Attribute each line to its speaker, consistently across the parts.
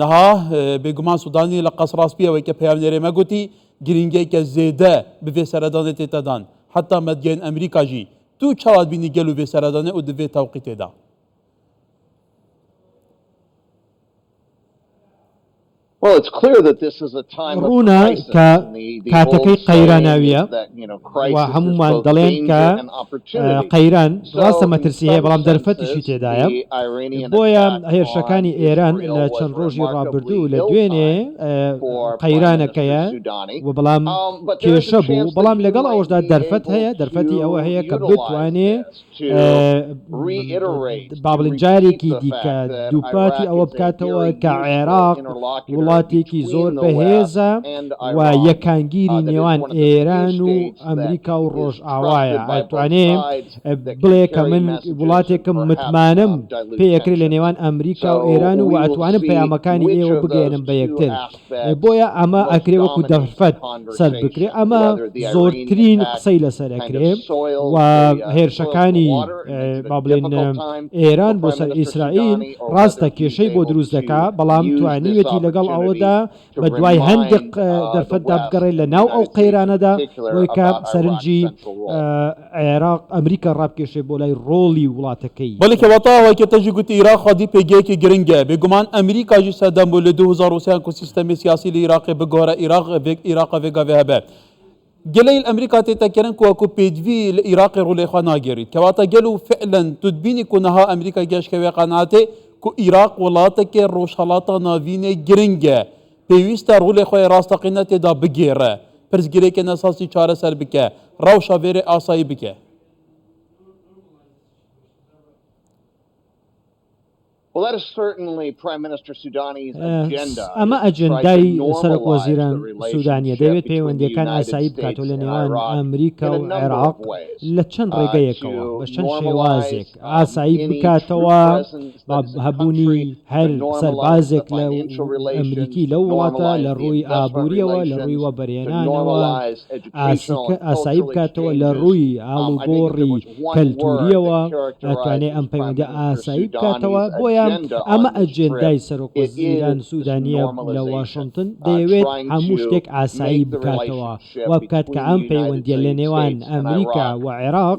Speaker 1: نها، بێگومان سودانی لە قەس ڕاست پێوەی کە پەیامنێرێ مە گوتی گرینگەی کە زێدە بڤێ سەرەدانێ تێتە دان، حەتا مەدگەێن ئەمریکا ژی دوو چاوات بینی گەل و ڤێ سەرەدانێ ئو دڤێ تەوقی تێدا.
Speaker 2: ڕوونە کە کاتەکەی قەیراناویە. و هەمومان دەڵێن کە قەیران ڕاستە مەترسی هەیە بەڵام دەرفەتیشی تێدایە بۆیە هێرشەکانی ئێران لە چەند ڕۆژی ڕابردوو لە دوێنێ قەیرانەکەیە و بەڵام کێشە بوو بەڵام لەگەڵ ئەوشدا دەرفەت هەیە دەرفەتی ئەوە هەیە کە بتوانێ بابلین جارێکی دیکە دووپاتی ئەوە بکاتەوە کە عێراق وڵاتێکی زۆر بەهێزە و یەکانگیری نێوان ئێران و ئەمریکا و ڕۆژ ئاوایە ئەتوانێ بڵێ کە من وڵاتێکم متمانم پێکرێت لە نێوان ئەمریکا و ئێران و ئەتوانم پەیامەکانی ئێوە بگەێنم بە یەکتر بۆیە ئەمە ئەکرێ وەکو دەرفەت سەر بکرێ ئەمە زۆرترین قسەی لەسەر ئەکرێ و هێرشەکانی با بڵێن ئێران بۆ سەر ئیسرائیل ڕاستە کێشەی بۆ دروست دەکا بەڵام توانیوێتی لەگەڵ ئەوەدا بە دوای هەندێک دەرفەتدا بگەڕێت لە ناو ئەو قەیرانەدا بۆیکە سەرنجی عێراق ئەمریکا ڕابکێشێ بۆ لای ڕۆڵی وڵاتەکەی. بەڵی کەواتە ئەوەی کە
Speaker 1: تەژی گوتی ئیراق خودی پێگەیەکی گرنگە بێ گومان ئەمریکا ژی سەدام بوو لە دوو هەزار و سێ هەنکو سیستەمی سیاسی لی ئیراقێ بگۆرە ئیراق ڤێک ئیراقە ڤێگا ڤێ هەبێ گەلەیل ئەمریکا تێ تەکەرن کو وەکو پێدڤی لە ئیراقی ڕوولەی خوا ناگێریت کەواتە گەل و فعلەن تودبینی کو نەها ئەمریکا گێشکەوێ قەناتێ کو ئیراق وڵاتەکێ ڕۆژهەڵاتا ناڤینێ گرنگە پێویستە ڕۆلێ خوەێ ڕاستەقینە تێدا بگێڕێ، پرسگرێکێ نەساسی چارەسەر بکێ، ڕەوشە ڤێرێ ئاسایی بکێ.
Speaker 2: ئەمە ئەجێندای سەرۆک وەزیران سوودانییە، دەیەوێت پەیوەندییەکان ئاسایی بکاتەوە لە نێوان ئەمریکا و عێراق لە چەند ڕێگەیەکەوە، بە چەند شێوازێک ئاسایی بکاتەوە. هەبوونی هەر سەربازێک لە ئەمریکی لەو وڵاتە لە ڕووی ئابووریەوە لە ڕووی وە بەرێنانەوە ئاسایی بکاتەوە لە ڕووی ئاڵوگۆڕی کەلتوریەوە ئەتوانێ ئەم پەیوەندە ئاسایی بکاتەوە بۆیان ئەمە ئەجێندای سەرۆک وەزیران سوودانیە لە واشنگتن دەیەوێت هەموو شتێک ئاسایی بکاتەوە وابکات کە ئەم پەیوەندیە لە نێوان ئەمریکا و عێراق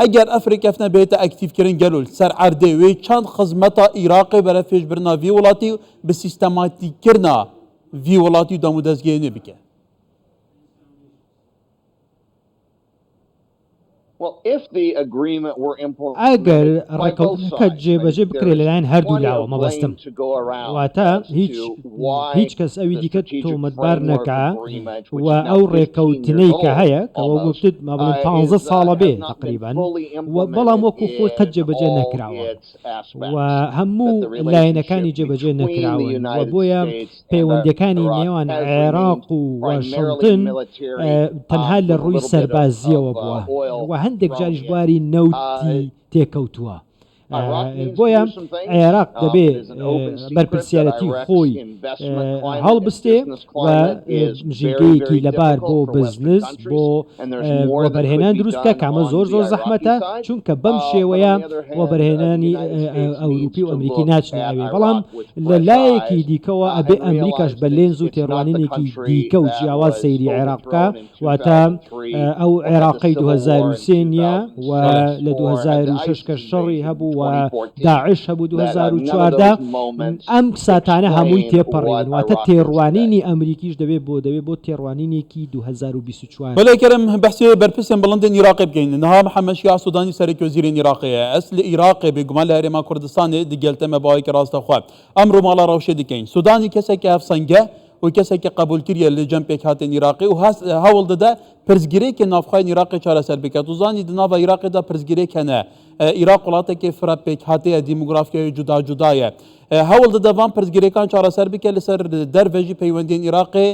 Speaker 1: ئەگەر ئەف رێککەفتنە بێتە ئەکتیڤکرن گەلول سەر عەردێ وێ چەند خزمەتا ئیراقێ بەرە فێش برنا ڤی وڵاتی و بە سیستەماتیککرنا ڤی وڵاتی و دەمودەزگێ نوێ بکە.
Speaker 2: ئەگەر ڕێککەوتنەکە جێبەجێ بکرێت لەلایەن هەردوو لاوە مەبەستم واتە هیچ هیچ کەس ئەوی دیکە تۆمەتبار نەکا و ئەو ڕێکەوتنەی کە هەیە کەەوە گفتت مابڵێن پ ساڵە بێ تقریبان و بەڵام وەکو خۆی قەت جێبەجێ نەکراوە و هەموو لایەنەکانی جێبەجێ نەکراون و بۆیە پەیوەندەکانی نێوان عێراق و واشنتن تەنها لە ڕووی سەربازیەوە بووە و هەندێک جاریش بواری نەوتی تێکەوتووە. بۆیە عێراق دەبێ بەرپسیارەتی خۆی هەڵبستێ ژێگەیەکی لەبار بۆ بزنس بۆ وەبەرهێنان دروستکە کامە زۆر زۆر زەحمەتە چونکە بەم شێوەیە وەبەرهێنانی ئەوروپی و ئەمریکی ناچنەوێ بەڵام لە لایەکی دیکەوە ئەبێ ئەمریکاش بە لێنز و تێڕوانینێکی دیکە و جیاواز سەیری عێراق بکە واتە ئەو عێراقی 2023 نیە و لە 2006 کە شەڕی هەبوو و داعش هەبوو 2014 ئەم ساتانە هەمووی تێپەڕێن واتە تێڕوانینی ئەمریکیش دەبێت بۆ دەبێت بۆ تێڕوانینێکی 2024 بەلێ کەرم بەحسێ
Speaker 1: بەرپرسێن بڵندێن ئیراقێ بگەین نها محەمەد شیاع سودانی سەرەکی وەزیرێن ئیراقێ ئەس لە ئیراقێ بێگومان لە هەرێما کوردستانێ دگێلتەمە باوەیکە ڕاستەخوە ئەمڕۆ ماڵا ڕەوشێ دکەین سودانی کەسێکە هەفسەنگە و کەسێکی قەبولکریە لە جەم پێکهاتێن عراقی و هەست هەوڵ دەدا پرسگرێکی نافخوای عراقی چارەسەر بکات و زانی دناڤ عراقیدا پرسگرێکەنە عراق وڵاتێکی فرە پێکهاتەیە دیموگرافیای جودا جودایە هەوڵ دەدەوان پرسگرێکان چارەسەر بکە لەسەر دەرڤێژی پەیوەندین عراقی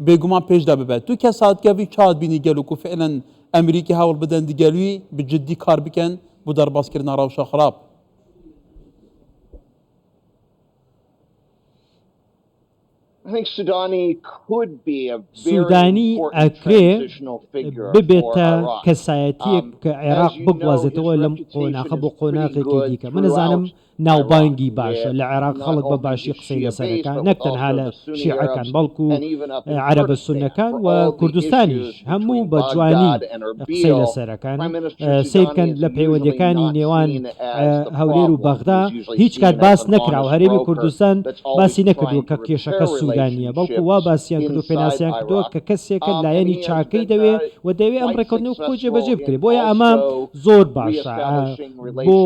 Speaker 1: بێگومان پێشدا ببێت تو کە ساتگەوی چات بینی گەل و کوفعلەن ئەمریکی هەوڵ بدەن دیگەلوی بجددی کار بکەن بۆ دەربازکردنا ڕەوشە خراپ
Speaker 2: سوودانی ئەکرێ ببێتە کەسایەتیەک کە عێراق بگوازێتەوە لەم قۆناخە بۆ قۆناغێکی دیکە من نەزانم ناوبانگی باشە لە عێراق خەڵک بە باشی قسەی لەسەرەکان نەک تەنها لە شیعەکان بەڵکو عربە سونەکان و کوردستانیش هەموو بە جوانی قسەی لەسەرەکان سیرکەن لە پەیوەندەکانی نێوان هەولێر و بەغدا هیچ کات باس نەکراوە، هەرێمی کوردستان باسی نەکردووە کە کێشەکە سوودانییە، بەڵکو وا باسیان کردووە پێناسەیان کردووە کە کەسێکە لایەنی چاکەی دەوێ و دەیەوێ ئەم ڕێککەوتنەوە خۆی جێبەجێ بکرێ، بۆیە ئەمە زۆر باشە بۆ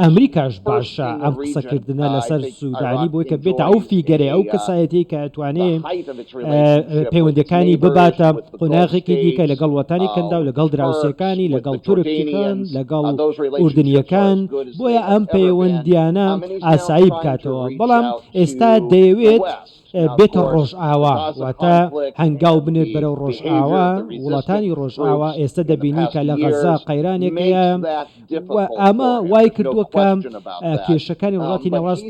Speaker 2: ئەمریکاش باشە ئەم قسەکردنە لەسەر سوودانی بۆی کە بێتە ئەو فیگەرەی ئەو کەسایەتیەی کە ئەتوانێ پەیوەندەکانی بباتە قۆناغێکی دیکە لەگەڵ وەتانی کەنداو لەگەڵ دراوسێکانی لەگەڵ تورکییەکان لەگەڵ ئوردنییەکان بۆیە ئەم پەیوەندییانە ئاسایی بکاتەوە بەڵام ئێستا دەیەوێت بێتە ڕۆژئاوا واتە هەنگاو بنێت بەرەو ڕۆژئاوا وڵاتانی ڕۆژئاوا ئێستا دەبینی کە لە غەزا قەیرانێک هەیە ئەمە وای کردووە کە کێشەکانی وڵاتی ناوڕاست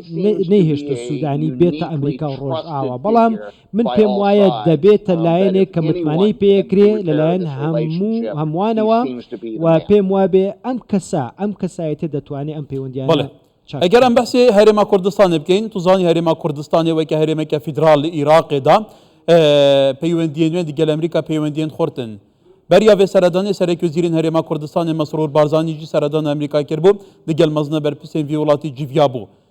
Speaker 2: نەیهێشتە سوودانی بێتە ئەمریکا و ڕۆژئاوا بەڵام من پێم وایە دەبێتە لایەنێک کە متمانەی پێکرێ لەلایەن هەموو هەمووانەوە و پێم وابێ ئەم کەسە ئەم کەسایەتە دەتوانێت ئەم پەیوەندیانە ئەگەر ئەم بەسێ
Speaker 1: هەرێما کوردستانی بکەین توزانی هەرێما کوردستانی وەکە هەرێمێکە فیدرال لە عیراقێدا پەیوەندیە نوێن دیگەل ئەمریکا پەیوەندیان خورتن بەریا بێ سەردانی سەرەکی و زیرین هەرێما کوردستانی مەسرور بارزانانیجی سەردان ئەمریکا کرد بوو دیگەل مەزنە بەرپسێن وی وڵاتی جیڤیا بوو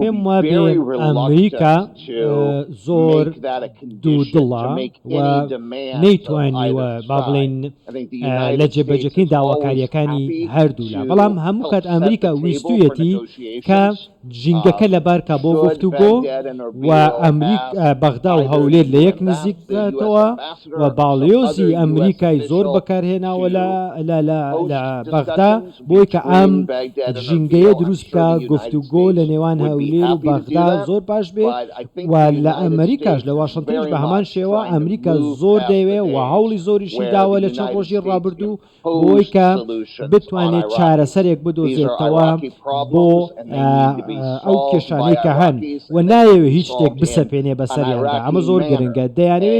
Speaker 2: پێم وابێ ئەمریکا زۆر دوودڵە و نەیتوانیوە با بڵێن لە جێبەجەکەی داواکاریەکانی هەردوولا بەڵام هەموو کات ئەمریکا ویستویەتی کە ژینگەکە لەبارکە بۆ گفت و گۆ و ئەمریک بەغدا و هەولێر لە یەک نزیک بکاتەوە و باڵیۆزی ئەمریکای زۆر بەکارهێناوە لە بەغدا بۆی کە ئەم ژینگەیە دروست بکا گفتوگۆ لە نێوان هەولێر و بەغدا زۆر باش بێ و لە ئەمریکاش لە واشنتنیش بە هەمان شێوە ئەمریکا زۆر دەیەوێ و هەوڵی زۆریشی داوە لە چەند ڕۆژی ڕابردوو بۆی کە بتوانێت چارەسەرێک بدۆزێتەوە بۆ ئەو کێشانەی کە هەن و نایەوێ هیچ شتێک بسەپێنێ بەسەریاندا ئەمە زۆر گرنگە دەیانێ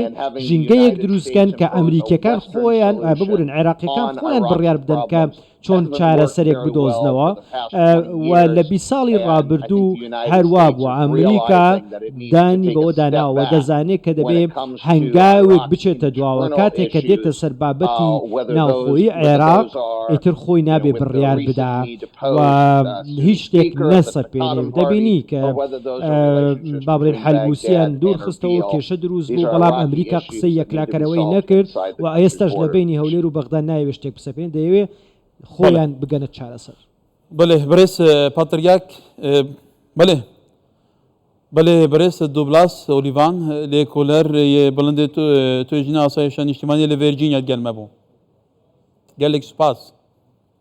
Speaker 2: ژینگەیەک دروستکەن کە ئەمریکیەکان خۆیان ببورن عێراقیەکان خۆیان بڕیار بدەن کە چۆن چارەسەرێک بدۆزنەوە و لە بی ساڵی ڕابردوو هەروا بووە ئەمریکا دانی بەوە داناوە دەزانێت کە دەبێت هەنگاوێک بچێتە دواوە کاتێک کە دێتە سەر بابەتی ناوخۆی عێراق ئیتر خۆی نابێ بڕیار بدا هیچ شتێک نەسەپێنێ و دەبینی کە بابلین حلبوسیان دوور خستەوە و کێشە دروست بوو بەڵام ئەمریکا قسەی یەکلاکەرەوەی نەکرد و ئێستاش لە بینی هەولێر و بەغدا نایەوێ شتێک بسەپێنێ دەیەوێ خۆیان بگەنە چارەسەر. بەلێ بەرێز
Speaker 1: پاتریاک بەلێ بەلێ بەرێز دوبلاس ئۆلیڤان لێ کۆلەر بڵندێ توێژینە ئاسایشە نیشتیمانی لە ڤێرجینیا گەلمە بوو گەلێک سوپاس